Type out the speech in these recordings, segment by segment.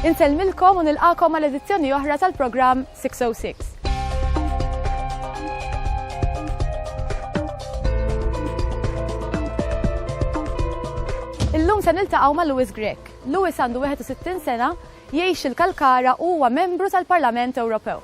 Inselmilkom u nilqakom għal edizzjoni oħra tal-programm 606. Illum se niltaqgħu ma' Louis Grek. Louis għandu 61 sena, jgħix il-Kalkara u huwa membru tal-Parlament Ewropew.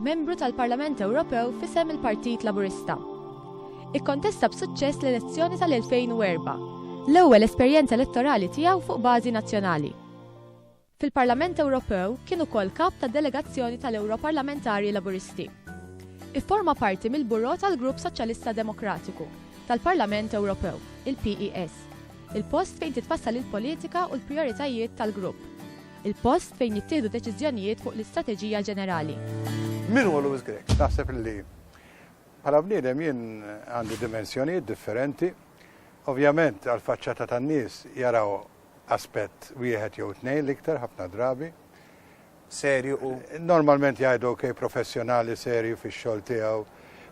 Membru tal-Parlament Ewropew f'isem il-Partit Laburista. Ikkontesta b'suċċess l-elezzjoni tal-2004, l-ewwel esperjenza elettorali tiegħu fuq bażi nazzjonali. Fil-Parlament Ewropew kien ukoll kap tad-delegazzjoni tal-Ewroparlamentari Laburisti. Ifforma parti mill-Buro tal-Grupp Soċjalista Demokratiku tal-Parlament Ewropew, il-PES, il-post fejn titfassal il-politika u l-prijoritajiet tal-grupp. Il-post fejn jittieħdu deċiżjonijiet fuq l-istrateġija ġenerali. Min huwa Louis Grech? Naħseb li bħala bniedem jien għandi dimensjonijiet differenti. Ovvjament għal-faċċata tan-nies jaraw aspett wieħed jew tnejn l-iktar ħafna drabi. Serju u normalment jgħidu ok professjonali serju fix-xogħol tiegħu.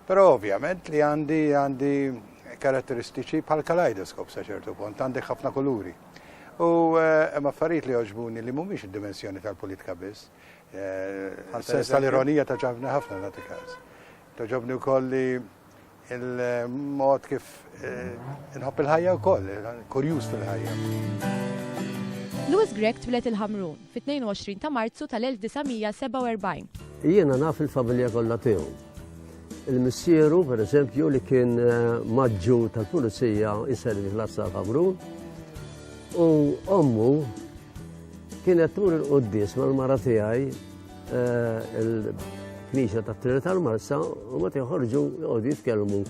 Però ovvjament li għandi għandi karatteristiċi bħal kaleidoskop sa ċertu punt, għandek ħafna kuluri. U hemm affarijiet li jogħġbuni li mhumiex id-dimensjoni tal-politika biss. Sens tal-ironija ta' ġabni ħafna nagħti każ. Toġobni wkoll li il-mod kif inħobb il-ħajja wkoll, kurjuż fil-ħajja. Louis Grech twilet il-Ħamrun fit-22 ta' Marzu tal-1947. Jiena naf il-familja kollha tiegħu. Il-missieru, per eżempju, li kien eh, maġġu tal-pulizija iservi l-Assa Ħamrun, u ommu kienet tur il-qoddis mal-mara tiegħi eh, il-knisja ta' Trinità tal-Marsa u ma tiħorġu jgħodu jitkellmu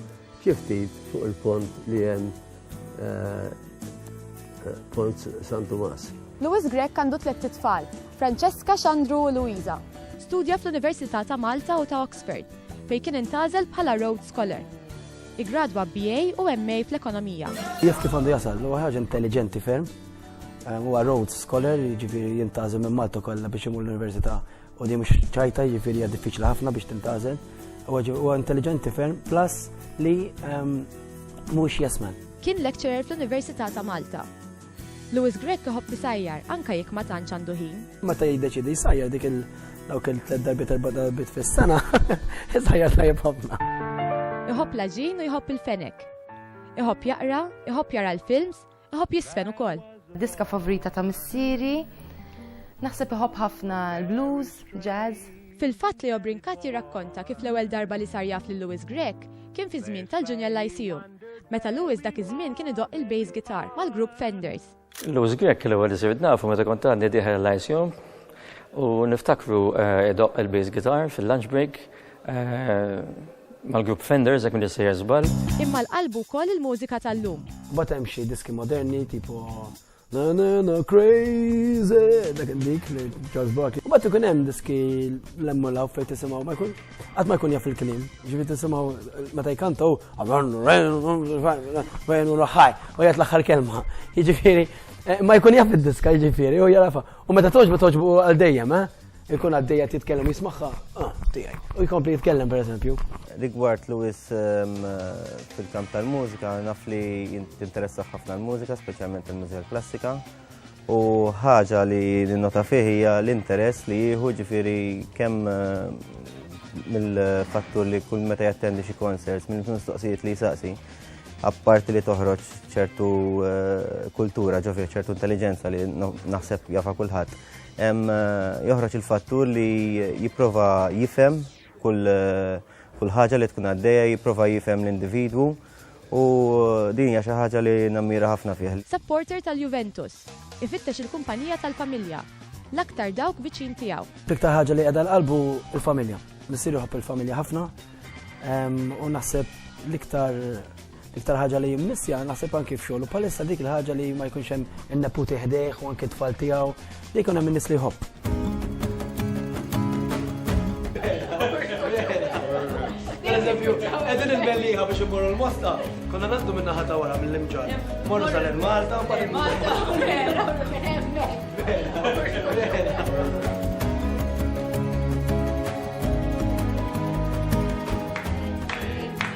kif fuq il-pont li hemm Pont San Tomas. Louis Grech għandu tliet tfal, Francesca, Xandru u Luisa. Studja fl-Università ta' Malta u ta' Oxford, fejn kien intazel bħala Rhodes Scholar. Igradwa BA u MA fl-Ekonomija. Jaf kif għandu jasal, u ħaġa intelligenti ferm. Huwa Rhodes Scholar, jiġifieri jintazel minn Malta kollha biex imur l-Università U din mhux ċajta jiġifieri hija diffiċli ħafna biex tintgħażel. Huwa intelligenti ferm plus li ehm, mhux jasman. Kien lecturer fl-Università ta' Malta. Louis Grech iħobb isajjar anke jekk ma tantx għandu ħin. Meta jiddeċidi jsajjar dik il- dawk il-tlet darbit erba' darbit fis-sena, isajjar tajjeb ħafna. Iħobb l-ġin u jħobb il-fenek. Iħobb jaqra, iħobb jara l-films, Iħobb jisfen ukoll. Diska favorita ta' missieri. Naħseb iħobb ħafna l-blues, jazz. Fil-fatt Leo Brincat jirrakkonta kif l-ewwel darba li sar jaf lil Louis Grech kien fi żmien tal-Junior Lyceum, meta Louis dak iż-żmien kien idoqq il-bass guitar mal-grupp Fenders. Louis Grech l-ewwel li sirt nafu meta kont għadni dieħel l-Lyceum u niftakru eh, idoqq il-bass guitar fil-lunch break eh, Mal-grupp Fenders jekk m'intix sejjer żball. Imma l-qalb hu wkoll il-mużika tal-lum. Imbagħad hemm xi diski moderni tipo Na na na crazy, dak dik li Charles Barkley. U bat ikun hemm diski l-emmolaw fejn tisimgħu ma jkun qatt ma jkun jaf il-kliem. Ġifi tisimgħu meta jkantaw fejn u ħaj u jgħid l-aħħar kelma. Jiġifieri eh, ma jkun jaf id-diska jiġifieri u jarafa. U meta toġbu toġbu għal dejjem, eh? Ikun għaddej qed jitkellem u jismagħha, ah, tiegħi. U jkompli jitkellem pereżempju. Rigward Luis ehm, fil-kamp tal-mużika, naf li jinteressa ħafna l-mużika, speċjalment il-mużika klassika. U ħaġa li ninnota fih hija l-interess li jieħu ġifieri kemm ehm, mill-fattur li kull meta jattendi xi konserts, minn mistoqsijiet li jsaqsi, apparti li toħroġ ċertu eh, kultura ġofi, ċertu intelligenza li naħseb jafa kulħadd. Hemm joħroġ il-fattur li jipprova jifhem kull kull ħaġa li tkun għaddejja jipprova jifhem l-individwu u din hija xi ħaġa li nammira ħafna fih. Supporter tal-Juventus. Ifittex il-kumpanija tal-familja, l-aktar dawk viċin tiegħu. L-iktar ħaġa li qiegħda l-qalbu l-familja. Missier joħobb il-familja ħafna u naħseb l-iktar L-iktar ħaġa li jimmissja naħseb anki f'xogħol u palissa dik il-ħaġa li ma jkunx hemm in-neputi ħdejh u anki tfal tiegħu li jkun hemm in-nies li jħobb. Pereżempju, qegħdin il-melliħa biex imorru l-mosta, konna naħdu minn naħa ta' wara mill-imġar. Morru sal Malta u bad Malta.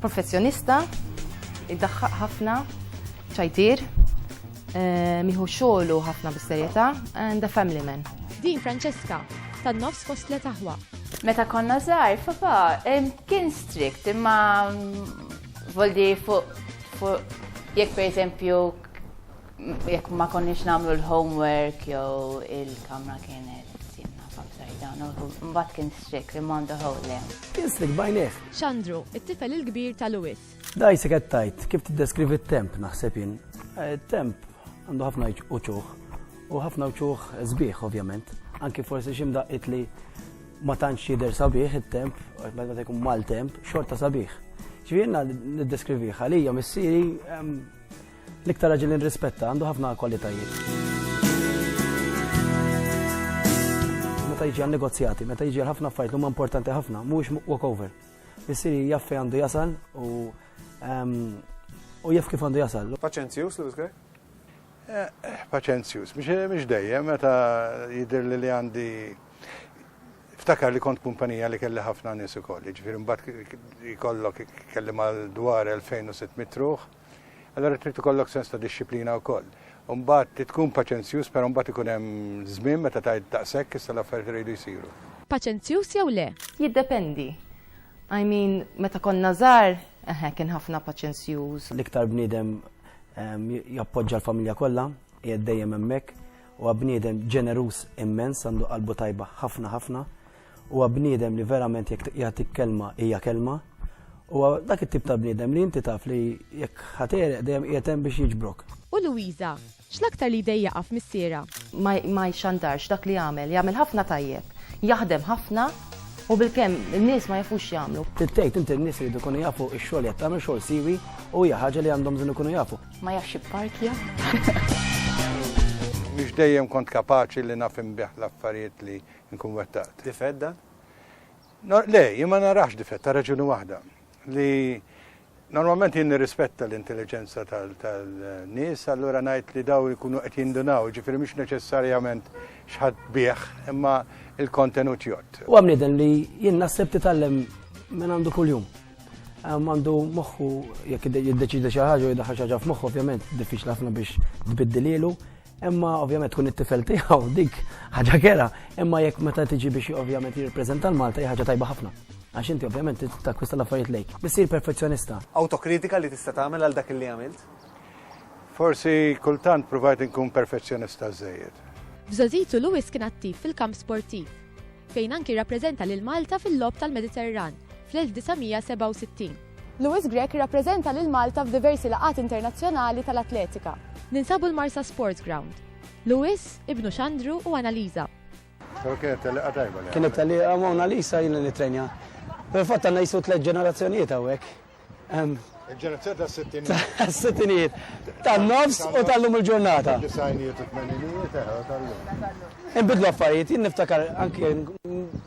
Professjonista, iddaħħaq ħafna, ċajtier, eh, miħu xogħlu ħafna bis-serjetà and a family man. Din Francesca, tan-nofs fost tliet aħwa. Meta konna żgħar, papa kien strict imma mm, voldi fuq jekk pereżempju jekk ma konniex nagħmlu l-homework jew il-kamra kienet timna f'upside down, mbagħad kien strick li m'għandu ħowl le. Kien strick bajnejh. Xandru, it-tifel il-kbir ta' Louis. Dajsi qed tgħid kif tiddeskrivi t-temp naħseb jien. Eh, temp għandu ħafna uċuħ u ħafna uċuħ sbieħ ovvjament. Anki forsi xi mdaqqit li ma tantx jidher sabiħ it-temp, meta jkun mal-temp, xorta sabiħ. Ġifieri niddeskriviha li hija missieri L-iktar raġel li nrispetta għandu ħafna kwalitajiet. Meta jiġi għal negozjati, meta jiġi għal ħafna affarijiet li huma importanti ħafna, mhuwiex walkover. Missieri jaf fejn għandu jasal u ehm, u jaf kif għandu jasal. Paċenzjus, Lewis Gray? Eh, eh, paċenzjus, mhix dejjem meta jidher li li għandi ftakar li kont kumpanija li kelli ħafna nies ukoll, jiġifieri mbagħad jkollok kelli mal dwar 2600 ruħ Allura trid ikollok sens ta' dixxiplina wkoll. U mbagħad trid tkun paċenzjuż però mbagħad ikun hemm żmien meta tgħid daqshekk issa l-affarijiet iridu jsiru. Paċenzjuż jew le? Jiddependi. I mean, meta konna żgħar, eħe, kien ħafna paċenzjuż. L-iktar bniedem jappoġġa l-familja kollha, qiegħed dejjem hemmhekk, huwa bniedem ġeneruż immens, għandu qalbu tajba ħafna ħafna. Huwa bniedem li verament jekk jagħtik kelma hija kelma. Huwa dak it-tip ta' bniedem li inti taf li jekk ħatereq dejjem qiegħed hemm biex jiġbrok. U Louisa, x'l-aktar li jdejjaqha f'missierha? Ma jxandarx dak li jagħmel. Jagħmel ħafna tajjeb. Jaħdem ħafna u bilkemm in-nies ma jafux x'jagħmlu. Trid tgħid int in-nies iridu jkunu jafu x-xogħol li qed tagħmel xogħol siwi u hija ħaġa li għandhom bżonn ikunu jafu. Ma jafx ipparkja. Mhux dejjem kont kapaċi li naf inbigħ l-affarijiet li Inkun wettaqt. Difett dan? Le, jien ma narax difett, ta' raġuni waħda. Li normalment jien nirrispetta l-intelligenza tal-nies, allura ngħid li daw jkunu qed jindunaw, ġifieri mhux neċessarjament x'ħadd bih, imma il-kontenut jott. Huwa bniedem li jien naħseb titgħallem minn għandu kuljum. Għandu moħħu jekk jiddeċidi xi ħaġa u jiddaħħal xi ħaġa f'moħħu ovvjament diffiċli ħafna biex tbiddilielu, Imma ovvjament tkun it-tifel tiegħu dik ħaġa kera, imma jekk meta tiġi biex ovvjament jirrepreżenta l-Malta hija ħaġa tajba ħafna. Għax inti ovvjament takwista l-affarijiet lejk. Bissir perfezzjonista. Autokritika li tista' tagħmel għal dak li għamilt? Forsi kultant provajt inkun perfezzjonista żejjed. F'Żożitu Lewis kien attiv fil-kamp sportiv, fejn anki rappreżenta lil Malta fil-Logħob tal-Mediterran fl-1967. Louis Grech irrappreżenta lil Malta f'diversi laqgħat internazzjonali tal-atletika. Ninsabu l-Marsa Sports Ground. Louis, ibnu Xandru u Annalisa. Kienet tellieqa tajba li. Kienet tellieqa ma' Annalisa jien li nittrenja. Fil-fatt għandna jisu tliet ġenerazzjonijiet hawnhekk. Il-ġenerazzjoni tas-sittinijiet. Tas-sittinijiet. Tan-nofs u tal-lum il-ġurnata. Disajnijiet u tmeninijiet, eħe, tal-lum. Inbidlu affarijiet, jien niftakar anke